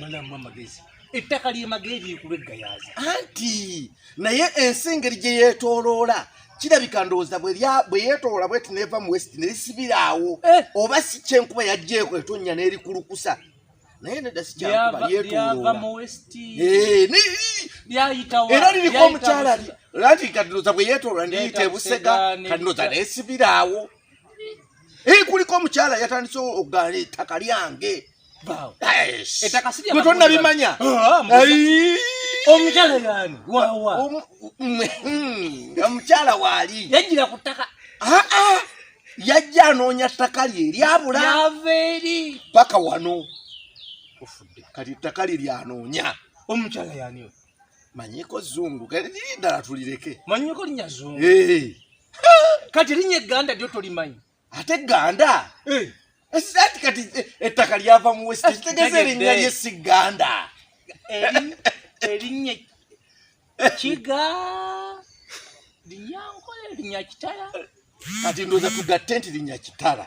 malamu amagezi ettaka lyemaga ebyekulu eggayaaza anti naye ensi engeri gye yeetooloola kirabika ndowooza bwe yeetoola bweti neeva mu west nerisibiraawo eh. oba si kyenkuba yajjeeko etonnya n'erikulukusa naye nedda sikyakuba yeetoolooera eh, liriko omukyala lanti kati ndowooza bwe yeetoolola neyita ebusega kati ndowooza nesibiraawo Hii kuliko mchala yatandise ogale ettaka lyange. Bawo. Ettaka si lyange. Tonna bimanya. Ah, omuchala yani. Wa wa. Omuchala hmm, wali. Yajira kutaka. Ah ah. Yajja anoonya ttaka lye lyabula. Yaveri. Paka wano. Ofudde. Kati ttaka lye lyanoonya. Omuchala yani. manyiko zungu kati liri ddala tulireke manyiko linya zungu eh. kati linya egganda lyo tolimanyi ate egganda eh. ati kati eh, ettaka lyava mu west kitegeza erinnya lye si gganda erinnya kiga linyankola linya kitala kati ndoza tugatte nti linya kitala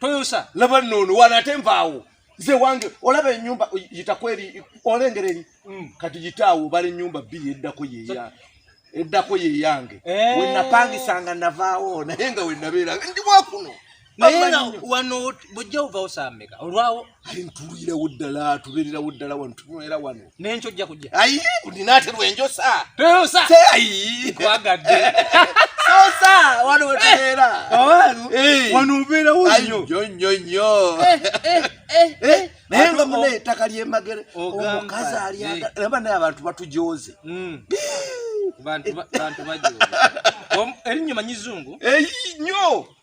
toyosa laba nono wana ate nvaawo ze wange olaba enyumba yitako eri olengera eri mm. kati yitaawo bala enyumba bbiri eddako yeya eddako yeyange eh. wenapangisanga navaawo naye nga wenabeeranga ndi wakuno naye wano bujja ovawo sameka olwawo ayi ntulirewo ddala tubeererawo ddala wano tunywera wano nenkyo ojja kujja ayi ndina ate lwenjosa toyosa se ayi kwagadde sosa wano wetubeera abantu eh. wano obeerawo nnyo nnyo nnyo nnyo eh, eh, naye nga muna ettaka lyemagere omukazi alyaba naye abantu batujooze hmm. bantu bantu bajo eri nyuma nyizungu eyi nyo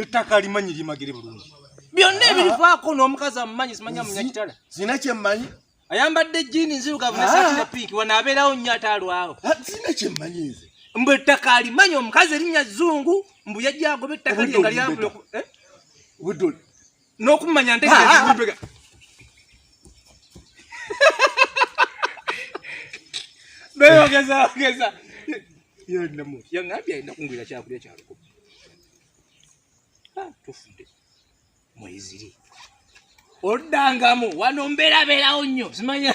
ettaka limanyi limagere bulungi byonna ebirivaako n'omukazi amumanyi simanya munyakitala zina kyemmanyi ayambadde jini nzirugavu nesaati ne piiki wano abeerawo nnyo ate alwawo zina kyemmanyi nze mbu ettaka alimanyi omukazi erinnya zungu mbu yajja agoba ettaka lyenga lyabula n'okumanya ntegeeza beyogeza ogeza yonnamu yaŋambye alina kungulira kyakulya kyaluko tufudde mweziri oddangamu wano mberabeerawo nnyo simanya